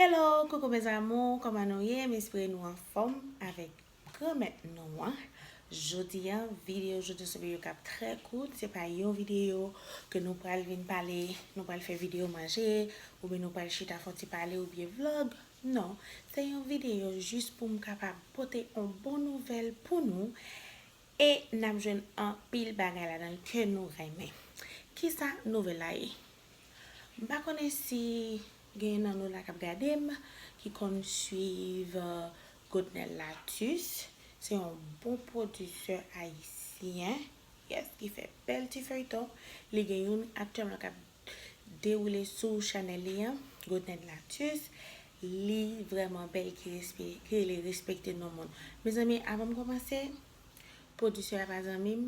Hello coucou mes amours kòman nou ye m espere nou anfòm avèk granmèt nou an jodi an videyo jodi sou videyo kap trè kout se pa yon videyo ke nou pral vin pale nou pral fè videyo manje oubyen nou pral chita fon ti pale oubyen vlog non se yon videyo jis pou m kapab pote on bon nouvèl pou nou e nap jwenn anpil bagay ladan ke nou renmen kisa nouvèl la ye M pa konnen si genyen nan nou la kap gade m ki konn swiv Godnel Latus se yon bon pwodisè ayisyen yes ki fè bèl ti feyton li gen youn aktyèlman kap dewoule sou chanèl li an Godnel Latus li vrèman bèl ki rele respekte non moun mezanmi avan m kòmanse pwodisè a pa zanmi m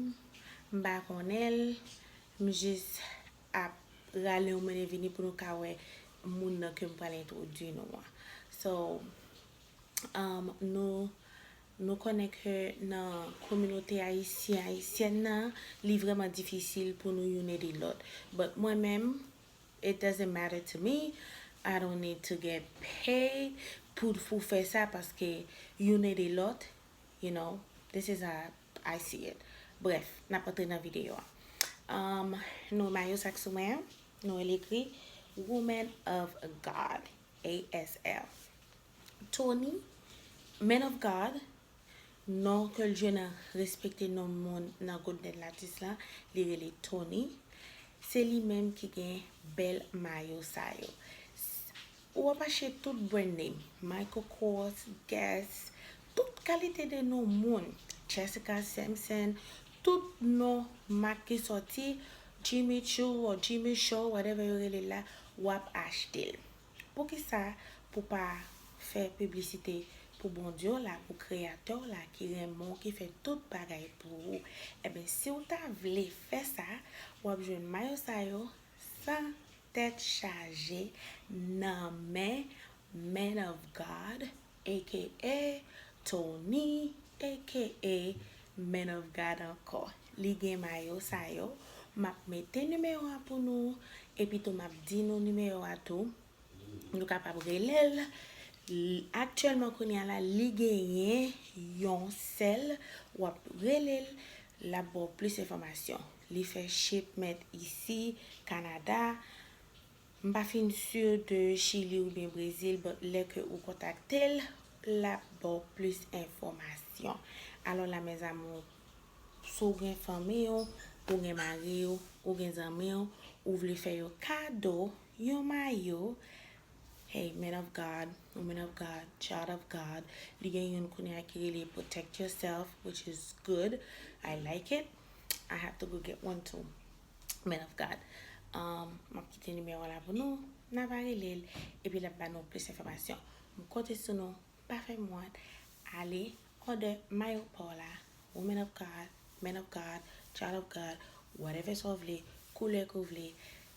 m pa konnen l m jis ap rale yon mennen vini pou nou ka wè moun nan ke m pral entwodui nou an. So, nou konnen ke nan kominote ayisyen, ayisyèn nan, li vrèman difisil pou nou youn ede lòt. But mwen menm, it doesn't matter to me, I don't need to get paid pou fè sa paske youn ede lòt, you know, this is a I see it. Bref, nap antre nan video a. Umm nou mayo sak sou mwen an, nou wè li ekri Woman of God ASL. Tony, Man of God, non ke l jwe nan respekte non moun nan Golden Latis la, li rele Tony. Se li menm ki gen bèl mayo sa yo. Ou wap achte tout brand name, Michael Kors, Guess, tout kalite de non moun, Jessica Simpson, tout non mak ki sòti, Jimmy Choo or Jimmy Show whatever yo rele l la, wap achte l. Poukisa pou pa fè piblisite pou Bondye w la, pou kreyatè w la ki renmen w, ki fè tout bagay pou ou. Enben si w ta vle fè sa, wap jwenn mayo sa yo San tèt chaje nan men Man of God aka Tony aka Man of God ankò li gen mayo sa yo map mete nimewo a pou nou epi tou map di nou nimewo a tou Nou kapab rele l. Aktyèlman kounye a la, li genyen yon sèl. W ap rele l, l ap ba w plis enfòmasyon. Li fè shipment isi, Kanada. M pa fin si de Chili oubyen Brezil, but lè ke ou kontakte l, l ap ba w plis enfòmasyon. Alò la mes amours, si w gen fanmi w, ou gen mari w, ou gen zanmi w, ou vle fè yo kado, Yon mayo, hey man of God, woman of God, child of God, li gen youn kounye a ki rele protect yourself which is good, I like it, I have to go get one too, man of God. Um, map kite nimewo an la pou nou, nan va rele l, epi lap ba nou plis enfòmasyon. M konte sou nou, pa fè m wont, ale òdè mayo pa w la, woman of God, man of God, child of God, whatever sa w vle, koulè ke w vle,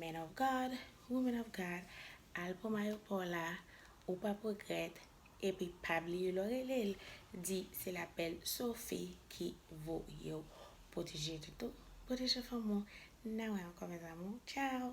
Man of God, woman of God, al pran mayo paw la, ou pap regrèt, epi pa bliye lèw relel, di se la bèl Sophie ki voyew. Pwoteje tèt ou, pwoteje fanmi w, nan wè ankò mes amours, ciao!